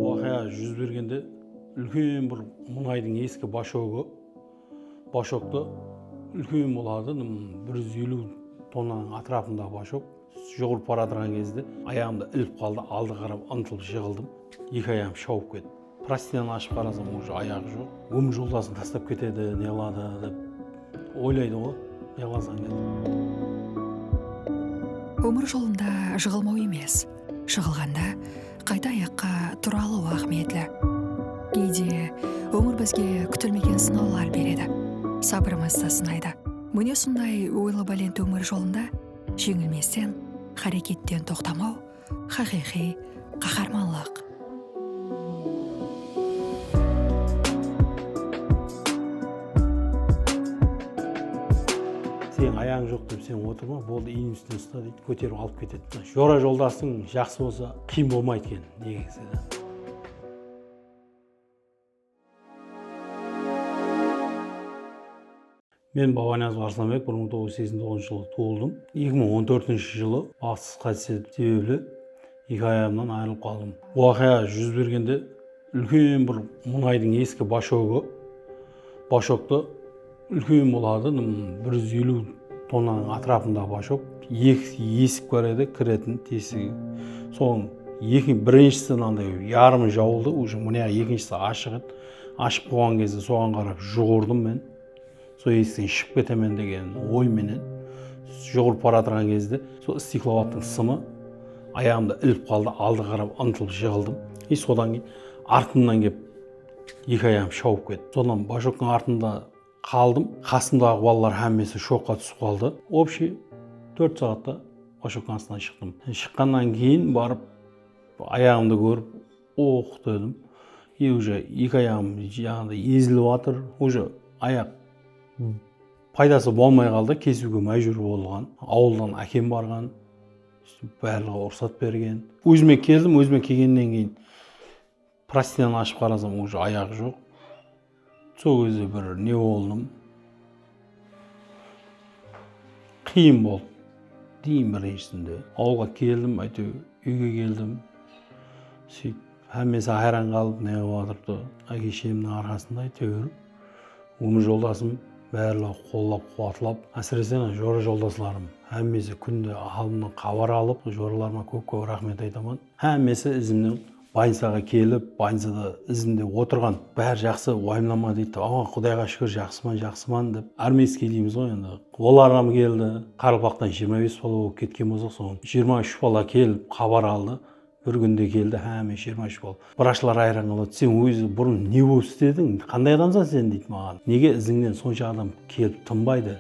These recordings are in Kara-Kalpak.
Waqıya júz bergende úlken bir muńaydıń eski bashogı, bashogta úlken boladı, bir júz eliw tonnanıń atırapındaǵı bashog jugırıp baratırǵan gezde ayaǵımda ilip qaldı, aldıǵa qarap ıntılp jıǵıldım, eki ayağım shawıp ketip. Prostinan ashıp qarasam uje ayaǵı joq. Ómir joldasın taslap ketedi neladı dep oylaydıǵo nelazań dep. Ómir jolında jıǵılmaw emes, jıǵılǵanda qayta ayaqqa tura alıw áhmiyetli. Geyde ómir bizge kútilmegen sınawlar beredi, sabırımızdı sınaydı. Mine sonday oylabálent ómir jolında jeńilmesten, háreketten toqtamaw, Xaqıyqıy qaxarmanlıq. Seniń ayaǵıń joq dep sen otırma boldı inim ústine usta deydi kóterip alıp ketedi jora joldasıń jaqsı bolsa qıyın bolmaydı eken negizide. Men Babaniyazov Arslanbek bir mıń toǵız júz seksen toǵızınshı jılı tuwıldım. Eki mıń on tórtinshi jılı baxıtsız qáytis etip sebepli eki ayagımnan ayrılıp qaldım. Waqıya júz bergende úlken bir muńaydıń eski bashogı, bashogtı, Úlken boladı, bir júz eliw tonnanıń atırapında bashok, eki esik bar edi, kiretin tesigi. Sonıń eki birinshisi mınanday yarımı jawıldı, újin mıniyaǵı ekinshisi ashıq edi. Ashıq bolǵan gezde soǵan qarap juǵırdım men, sol esikten shıǵıp ketemen degen oy menen. Juǵırıp baratırǵan gezde sol stiklovattıń sımı ayaǵımda ilip qaldı, aldıǵa qarap ıntılp jıǵıldım. Sodan keyin artımnan kelip, Eki ayağım shawıp ketti. Sonnan Bajoktıń artında qaldım. Qasımdaǵı balalar hámmesi shokqa túsip qaldı. Obshiy tórt saatta Bajoktıń astınan shıqtım. Shıqqannan keyin barıp ayaǵımdı kórip ox dedim. E úje eki ayaǵım jaǵınday ezilip atır. Úje ayaq paydası bolmay qaldı, kesiwge májbúr bolǵan. Awıldan ákem barǵan. Bárliǵi urısat bergen. Ózime keldim, ózime kelgennen keyin. Prostiyanı ashıp qarasam uja ayaq joq sol gezde bir ne boldım qıyın boldı eń birinshisinde awılǵa keldim áyteu úyge keldim suyt hámmesi hayran qalıp ne bolıp atırdı áke shemniń arqasında áyteu umır joldasım bárleu qollap quwatlap ásirese ana jora joldaslarım hámmesi kúnde halımnan xabar alıp joralarıma kóp kóp raxmet aytaman hámmesi izimniń Bolnicaǵa kelip, bolnicada izimde otırǵan, bári jaqsı, uayımlama deydi de, aǵa, qudayǵa shúkir, jaqsıman, jaqsıman, dep, armeyskiy deymiz ǵoy endi, olarǵam keldi, qaraqalpaqtan jigirma bes bala bolıp ketken bolsaq, soǵan jigirma úsh bala kelip, xabar aldı, bir kúnde keldi, háme jigirma úsh bala, vrachlar ayran qaladı, sen ózi burın ne bolıp islediń, qanday adamsan sen, deydi maǵan, nege izińnen sonsha adam kelip tınbaydı,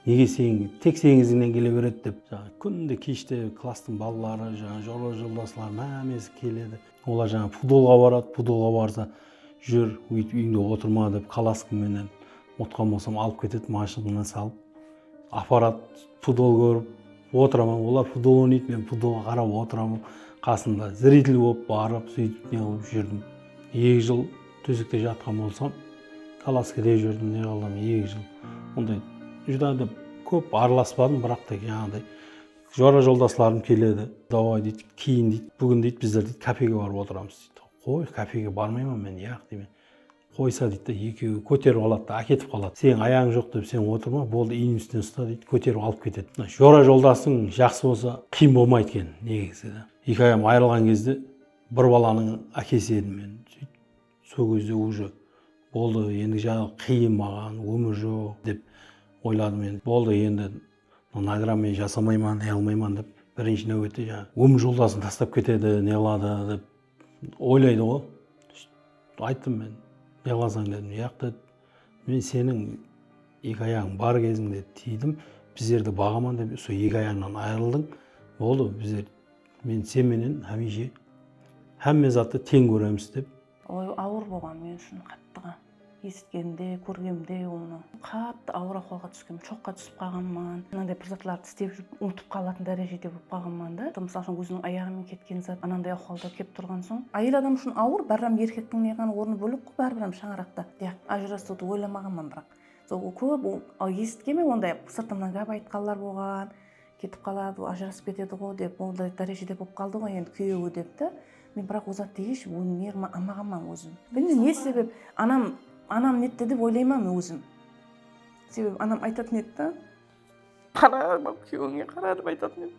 Nege sen tek seniń izińnen kele beredi dep jańa kúnde keshte klasstıń balaları jańa jora joldaslari hámesi keledi. Olar jańa pudolǵa baradı, pudolǵa barsa júr óytip úyińde otırma dep kalaskam menen utqan bolsam alıp ketedi mashinkaǵa salıp aparadı pudol kórip otıraman olar pudol oynaydı men pudolǵa qarap otıraman qasında zritelь bolıp barıp sóytip neǵılıp júrdim eki jıl. Tósekte jatqan bolsam, kolaska dep júrdim, neǵıldım, eki jıl. Onday júdá da kóp aralaspadım, biraq ta jańǵıday jora-joldaslarım keledi. Davay, deydi, keyin deydi, búgin deydi, bizler deydi, kafege barıp otıramız, deydi. Qoy, kafege barmayman men, yaq, deymen. Qoysa, deydi da, ekeui kóterip aladı da, áketip qaladı. Seniń ayaǵıń joq dep sen otırma, boldı, iyniń ústinen usta, deydi, kóterip alıp ketedi. Mına jora-joldasıń jaqsı bolsa, qıyın bolmaydı eken, negizi. Eki ayam ayırılǵan gezde. Bir balanıń ákesi edim men sóytip sol gezde uje boldı endi jaǵı qıyın maǵan ómir joq dep oyladım endi boldı endi nagram men jasamayman ne qılmayman dep birinshi náuette jaǵı ómir joldasın tastap ketedi ne qıladı dep oylaydı ǵoy sóytip ayttım men ne qılasań dedim jaq dedi men seniń eki ayaǵıń bar kezińde tiydim bizlerdi baǵaman dep sol eki ayaǵıńnan ayırıldıń boldı bizler Men sen menen hámiyshe hámme zattı teń kóremiz dep. Oy awır bolǵan men ushın qattıǵa esitkenimde kórgemde onı qattı awır ahwalǵa túskem shoqqa túsip qalǵanman mınanday bir zatlardı istep júrip umıtıp qalatın dárejede bolıp qalǵanman da mısal ushın óziniń ayaǵı menen ketken zat ananday ahwalda kelip turǵan soń ayel adam ushın awır báribirem erkektiń neǵan ornı bólek ǵoy báribirem shańaraqta yaq ajırasıwdı oylamaǵanman biraq sol kóp esitkenmen onday sırtımnan gáp aytqanlar bolǵan Ketip qaladı ǵo, ajırasıp ketedi ǵo dep, onday dárejede bolıp qaldı ǵo endi kúyewi dep ta, men biraq ol zattı hesh ónerman almaǵanman ózim. Bilmeymen ne sebep anam, anam netti dep oylayman ózim. Sebebi anam aytatın edi da. Qara, kúyewińe qara dep aytatın edi.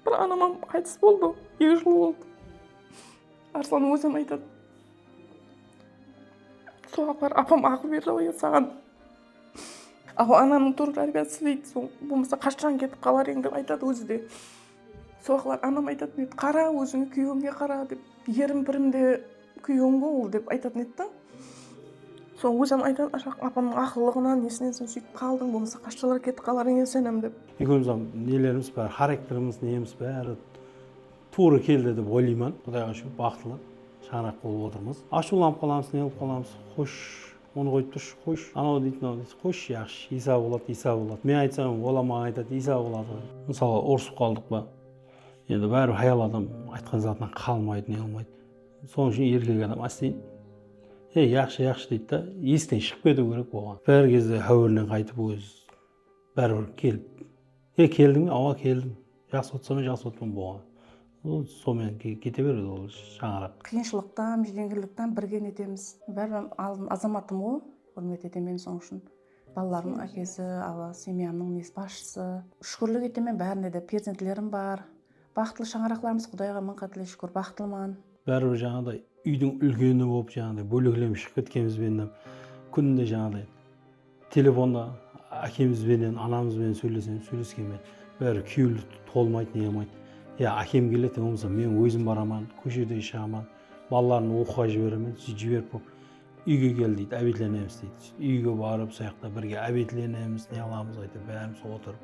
Bir anamam qaytıs boldı eki jıl boldı arslannıń óziyam aytadı sol waqıtlar apam aqıl berdi ǵoy edi saǵan aqıl ananıń tuwrı tárbiyası deydi sol bolmasa qashshań ketip qalar edi dep aytadı ózi de Soraǵlar anam aytatın edi qara ózińe kúyewińe qara dep erim pirim de kúyewim ǵo ol dep aytatın edi da soń ózim aytatuǵın ashaq apamnıń aqıllıǵınan nesinen sen sóytip qaldıń bolmasa qashshalar ketip qalar eken senem dep. Ekewimizǵa nelerimiz bári xarekterimiz nemiz bári tuwrı keldi dep oylıyman qudayǵa shúkir baxıtlı shańaraq bolıp otırmız ashıwlanıp qalamız ne bolıp qalamız xosh Onı qoyıp turıshı qoyıshı anau deydi mınau deydi qoyıshı yaqshı Iysa boladı Iysa boladı men aytsam olar maǵan aytadı Iysa boladı mısalı urısıp qaldıq pa endi báribir hayal adam aytqan zatınan qalmaydı ne qılmaydı sonıń ushın erkek adam ásteyin ey yaqshı yaqshı deydi da esiten shıǵıp ketiw kerek oǵan bir gezde háwirinen qaytıp óz Báribir kelip e keldiń be awa keldim jaqsı otsamen jaqsı otpan boǵan bu somen kete beredi ol shańaraq. Qıyınshılıqtan júdengirliktan birge netemiz báribir aldın azamatım ǵo xurmet etemen sonıń ushın balalarımnıń ákesi awa semyanıń nesi basshısı shúkirlik etemen bárine de perzentlerim bar baxıtlı shańaraqlarımız qudayǵa mıń qátle shúkir baxıtlıman. Báribir jańaǵıday úydiń úlkeni bolıp jańaǵıday bóleklenip shıǵıp ketkenimizbenem kúnde jańaǵıday Telefonda ákemiz benen, anamız benen sóylesemz, sóyleskenbe bári kúyewli tolmaydı, neyamaydı. Ya ákem keledi, ya bolmasa men ózim baraman, kóshede de shıǵaman, balalarımdı oqıwǵa jiberemen, sóytip jiberip bolıp, úyge kel deydi, ábetlenemiz deydi. Sóytip úyge barıp, soyaqta birge ábetlenemiz, neǵılamız, áytewir bárimiz otırıp.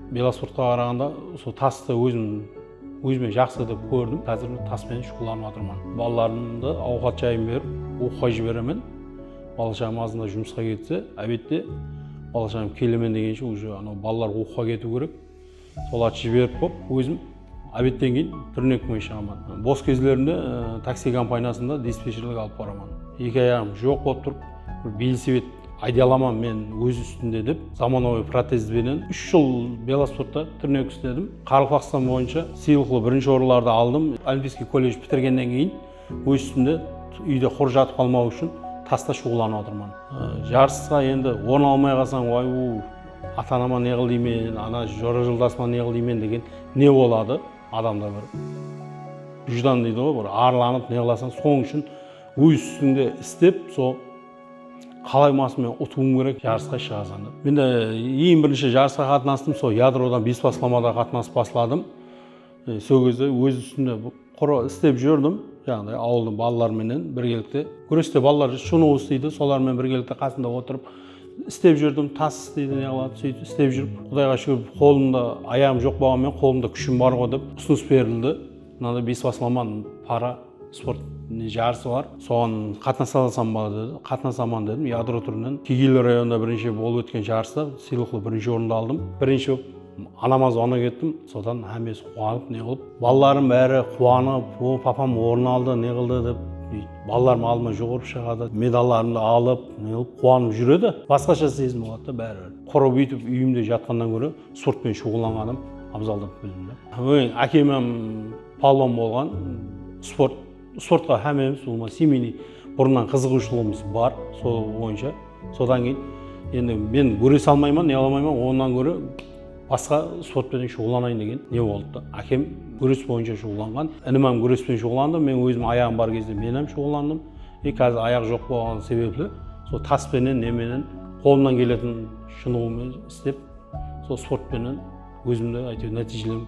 Velosportqa qaraǵanda usı tastı ózim ózime jaqsı dep kórdim. Xázir tas penen shuǵıllanıp atırman. Balalarımdı awqat jayın berip, oqıwǵa jiberemen. Bala shaǵam azında jumısqa ketse, ábette bala shaǵam kelemen degenshe, uje anaw balalar oqıwǵa ketiw kerek. Solatı jiberip bolıp ózim. Obetten keyin túrnek mıy ishaman. Bos kezlerimde taksi kompaniyasında dispetcherlik alıp baraman. Eki ayaǵım joq bolıp turıp, bir velosiped ayday alaman men óz ústimde dep, zamanagóy protez benen úsh jıl velosportta túrnek isledim. Qaraqalpaqstan boyınsha sıylıqlı birinshi orınlardı aldım. Olimpiskiy kolledj pitirgennen keyin Óz ústimde úyde qur jatıp qalmaw ushın tasta shuǵıllanıp atırman. Jarısqa endi orın almay qalsań way u ata anama ne qıl deymen ana jora joldasıma ne qıl deymen degen ne boladı adamda bir vijdan deydi ǵoy bir arlanıp ne qılasań sonıń ushın óz ústińde istep sol qalay bolmasın men utıwım kerek jarısqa shıǵasań dep mende eń birinshi jarısqa qatnastım sol yadrodan bespaslamada qatnasıp basladım Sol gezde óz ústimde qurı islep júrdim, jaǵınday awıldıń balaları menen birgelikte gúreste balalar shunıw isleydi, solar menen birgelikte qasında otırıp islep júrdim, tas isleydi neǵıladı, sóytip islep júrip qudayǵa shúkir qolımda ayaǵım joq bolǵan menen qolımda kúshim barǵo dep usınıs berildi, mınanday besbaslaman para sport ne jarısı bar, soǵan qatnasa alsam ba dedi, qatnasaman dedim, yadro túrinen kegeyli rayonında birinshi bolıp ótken jarısta sıylıqlı birinshi orındı aldım, birinshi bolıp. Anama zvonak ettim, sodan hámmesi quwanıp ne qılıp, balalarım bári quwanıp, o, papam orın aldı, ne qıldı dep, búytip, balalarım aldıma juǵırıp shıǵadı, medallarımdı alıp, ne qılıp, quwanıp júr edi. Basqasha sezim boladı da báribir. Qurı búytip úyimde jatqannan góre sportpen shuǵıllanǵanım abzal dep bildim da. Ákem hám palwan bolǵan, sport. Sportqa hámmemiz umuman semeyniy burınnan qızıǵıwshılıǵımız bar, sol boyınsha. Sodan keyin endi men gúres almayman, ne alamayman, onnan góre basqa sport penen shuǵıllanayın degen ne boldı da. Ákem gúres boyınsha shuǵıllanǵan, inim hám gúresten shuǵıllandı, men ózim ayaǵım bar kezde men hám shuǵıllandım. E kázir ayaq joq bolǵanı sebepli sol tas penen, ne menen, qolımnan keletin shınıǵıwmen istep, sol sport penen. Ózimdi áytewir nátiyjelenip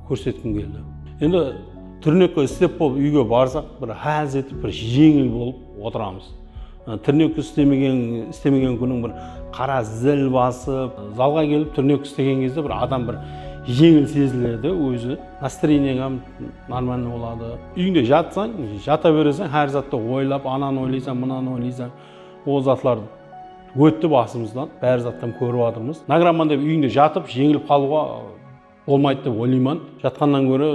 kórsetkim keldi. Endi tirnekka islep bolıp úyge barsaq bir ház etip bir jeńil bolıp otıramız. Tirnek istemegen istemegen kúniń bir qara zil basıp zalǵa kelip tirnek istegen gezde bir adam bir jeńil seziledi ózi nastreniyań hám normalniy boladı. Úyińde jatsań jata beresań hár zattı oylap ananı oylaysań mınanı oylaysań ol zatlardı. Ótti basımızdan, bári zattan kórip atırmız. Nagraman dep úyińde jatıp, jeńilip qalıwǵa bolmaydı dep oylayman. Jatqannan góre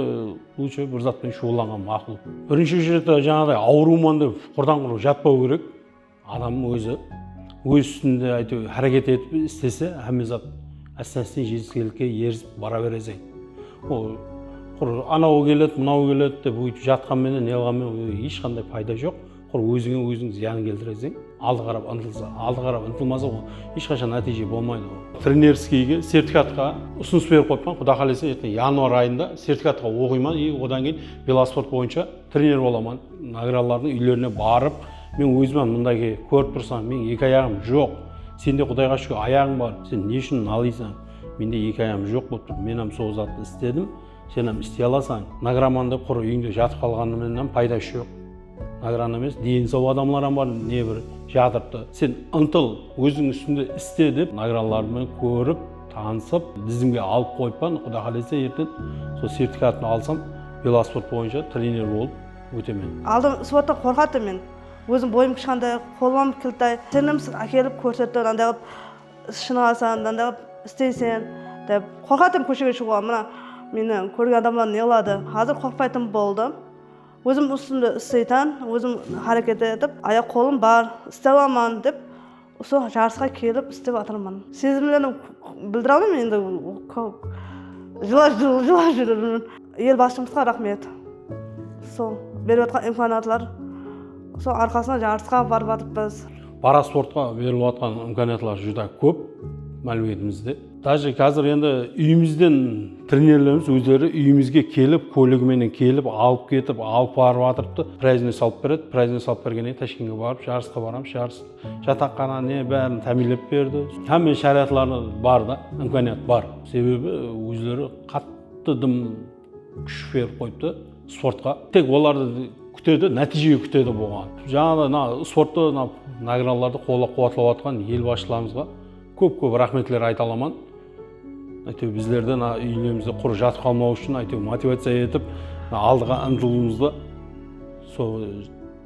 lútshe bir zat penen shuǵıllanǵan maqul. Birinshi uchretda jańaǵıday awırıwman dep qurdan-qurıq jatpaw kerek. Adam ózi óz ústinde áytewir háreket etip islese, hámme zat ásten-ásten jetiskelikke erisip bara bereseń. Ol qur anawı keledi, mınawı keledi dep óytip jatqan menen, ne qılǵan menen hesh qanday payda joq. Qur ózińe óziń zıyanın keltiresiń. Aldı qarap ıntılsa, aldı qarap ıntılmasa ol esh qashan nátiyje bolmaydı ol. Trenerskiyge sertifikatqa usınıs berip qoyıppan quda qalesa erteń yanvar ayında sertifikatqa oqıyman i odan keyin velosport boyınsha trener bolaman nagralardıń úylerine barıp men ózimam mındage kórip tursań meniń eki ayaǵım joq sende qudayǵa shúkir ayaǵıń bar sen ne ushın nalıysań mende eki ayağım joq bolıp tur menam sol zattı istedim senam istey alasań nagramanda qur úyińde jatıp qalǵanımenam paydas joq Nagiran emes deni sau adamlar ham bar ne bir jatırıptı sen ıntıl oziń ustińde iste dep nagiranlardı men korip tanısıp dizimge alıp koyıppan kuda kalese erten sol sertifikatımdı alsam velosport boyınsha trener bolıp otemen. Aldın sporttan korkatın men ozim boyım kishkanday kolım kiltay tinimsiz akelip korsetti mınanday kılıp shınıgasan mınanday kılıp isteysen dep korkatın koshege shıǵuǵa mına meni korgen adamlar neqıladı xazir korkpaytın boldım. Ózim ústimde isleytan, ózim háreketi etip, ayaq-qolım bar, istey alaman dep usı jarısqa kelip istep atırman. Sezimlerim bildire almayman endi jılap júrermen. El basshımızǵa raxmet. Sol berip atqan imkaniyatlar sol arqasında jarısqa barıp atırıpız. Parasportqa berilip atqan imkaniyatlar júdá kóp mámleketimizde. Dáje kázir endi úyimizden trenerlerimiz ózleri úyimizge kelip, kólig menen kelip, alıp ketip, alıp barıp atırıptı. Prázdnoy salıp beredi. Prázdnoy salıp bergennen keyin Tashkentke barıp jarısqa baramız. Jarıs jataqqana ne bárin támiyinlep berdi. Hámme sharayatları bar da, imkaniyat bar. Sebebi ózleri qattı dım kúsh berip qoyıptı sportqa. Tek olardı kútedi, nátiyje kútedi buǵan. Jańaǵıday mına sportta mına nagradalardı qollap-quwatlap atırǵan el basshılarımızǵa, Kóp kóp raxmetler ayta alaman áyteu bizlerden úylerimizde qur jatıp qalmau ushın áyteu motivaciya etip aldıǵa ıntılıuımızdı sol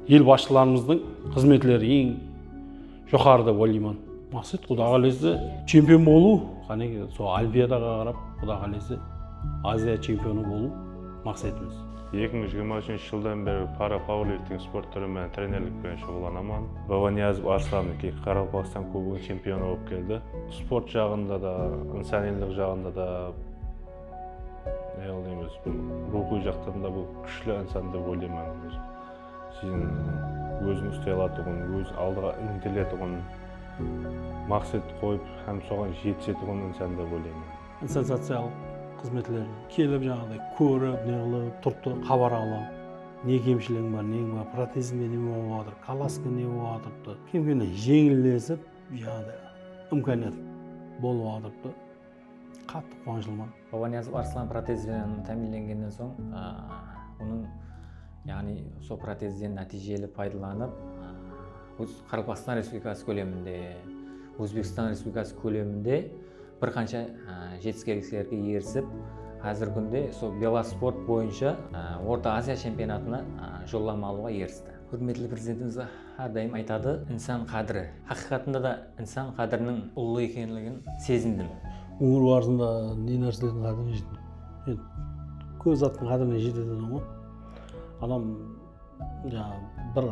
el basshılarımızdıń xızmetleri eń joqarı dep oyleyman maqset quda qalese chempion bolıu qánekey sol olimpiadaǵa qarap quda qalese aziya chempionı bolıu maqsetimiz Eki mıń jigirma úshinshi jıldan beri para pauerlifting sport túri menen trenerlik penen shuǵıllanaman. Babaniazov Arslan eki Qaraqalpaqstan kubogınıń chempionı bolıp keldi. Sport jaǵında da, insanıyylıq jaǵında da, yagni biz ruwxıy jaqtan da bul kúshli insan dep oylayman ózim. Sizin ózin ustay alatuǵın, óz aldıǵa intiletuǵın, maqset qoyıp hám soǵan jetisetuǵın insan dep oylayman. Insan social xızmetler kelip jaǵıday kórip neǵılıp turtı xabar alıp ne kemshiliǵiń bar neńiń bar protezińde neme bolıp atır kalaskada ne bolıp atırıptı kem kemnen jeńillesip jaǵıday imkaniyat bolıp atırıptı qattı quwanıshlıman. Babaniyazov Arslan protez benen támiyinlengennen soń onıń yaǵnıy sol protezden nátiyjeli paydalanıp Qaraqalpaqstan Respublikası kóleminde Ózbekstan Respublikası kóleminde Bir qansha jetiskenliklerge erisip, házirgi kúnde sol velosport boyınsha Orta Aziya chempionatına jollama alıwǵa eristi. Húrmetli Prezidentimiz hár dayım aytadı, Insan qádiri. Haqıyqatında da insan qádiriniń ullı ekenligin sezindim. Ómir barısında ne nárselerdiń qádirine jettim? Kóp zattıń qádirine jete etenman ǵoy. Adam jańa bir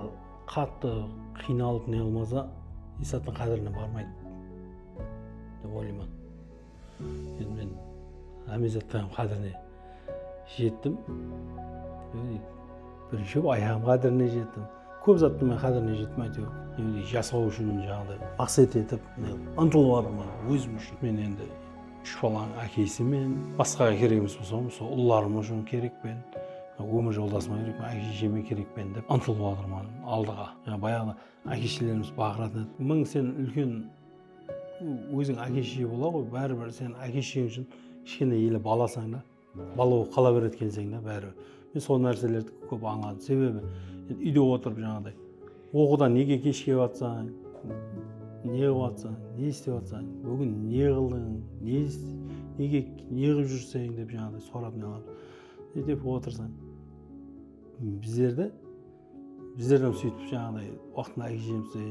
qattı qıynalıp ne qılmasa, eshzattıń qádirine barmaydı. Dep oylayman. Endi men hámme zatlardıń qádirine jettim. Birinshe bolıp ayaǵım qádirine jettim. Kóp zattıń men qádirine jettim áyteuir. Endi jasaw ushın jaǵınday maqset etip ıntılıp atırman ózim ushın. Men endi úsh balanıń ákesimen. Basqaǵa kerek emes bolsam usı ullarım ushın kerekpen. Ómir joldasıma kerekpen, áke-shesheme kerekpen dep ıntılıp atırman aldıǵa. Bayaǵıda. Ákeshelerimiz baǵıradı. Mıń sen úlken óziń ákeshe bola ǵoy bári bir sen ákesheń ushın kishkene ele balasań da bala bolıp qala beredi ekenseń da bári bir men sol nárselerdi kóp ańladım sebebi úyde otırıp jańaǵıday oqıdan nege kesh kelip atsań ne qılıp atsań ne istep atsań búgin ne qıldıń ne nege ne qılıp júrseń dep jańaǵıday sorap ne qılamız sóytep otırsań bizlerdi Bizler hám sóytip jaǵınday waqtında ákejemizdi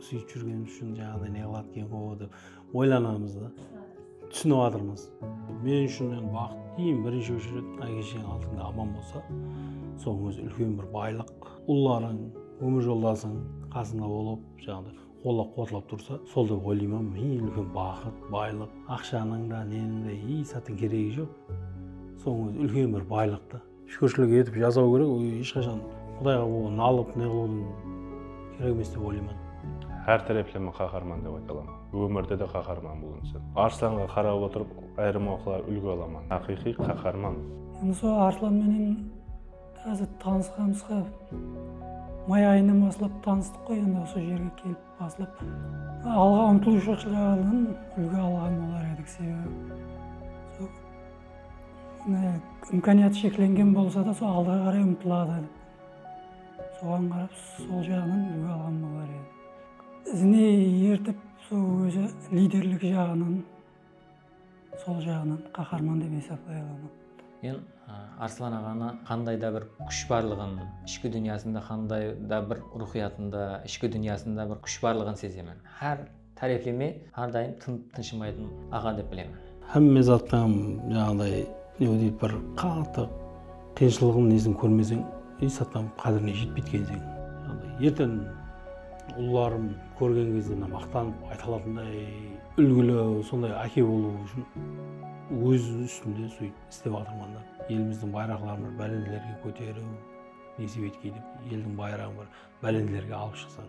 súyip júrgenimiz ushın jaǵınday ne qıladı eken ǵo dep oylanamız da. Túsinip atırmız. Men ushın endi baxıt eń birinshi óshiret ákesheń aldıńda aman bolsa sonıń ózi úlken bir baylıq. Ullarıń, ómir joldasıń qasıńda bolıp jaǵınday qollap quwatlap tursa sol dep oylayman men eń úlken baxıt, baylıq. Aqshanıń da neniń de eshzatıń keregi joq. Sonıń ózi úlken bir baylıq ta. Shúkirshilik etip jasaw kerek ol esh qashan qudayǵa boǵan nalıp neǵılıwdıń kerek emes dep oylayman. Hár tárepleme qaharman dep ayta alaman. Ómirde de qaharman bul insan. Arslanǵa qarap otırıp ayırım oqılar úlgi alaman. Haqıyqıy qaharman. Endi sol Arslan menen házir tanısqanımızǵa may ayınan baslap tanıstıq qoy endi usı jerge kelip baslap alǵa umtılıwshılıq jáǵınan úlgi alǵan bolar edik sebebi sol Imkaniyatı sheklengen bolsa da sol alǵa qaray umtıladı. Soǵan qarap sol jaǵınan úlgi alǵan bolar edi. Izine ertip sol ózi liderlik jaǵınan sol jaǵınan qaharman dep esaplay alaman. Men Arslan aǵanı qanday da bir kúsh barlıǵın, ishki dúnyasında qanday da bir ruwxıyatında, ishki dúnyasında bir kúsh barlıǵın sezemen. Hár. Tárepileme hár dayım tınıp tınshımaytın aǵa dep bilemen. Hámme zattan jaǵınday ne deydi bir qattı qıyınshılıǵın nesin kórmeseń esh zattan qádirine jetpeytukensiń. Erten ullarım kórgen gezde mına maqtanıp ayta alatınday úlgili sonday áke bolıu ushın óz ústimde sóytip islep atırman da. Elimizdiń bayraqların bir bálentlerge kóteriu nesip etkey dep eldiń bayraǵın bir bálentlerge alıp shıqsań.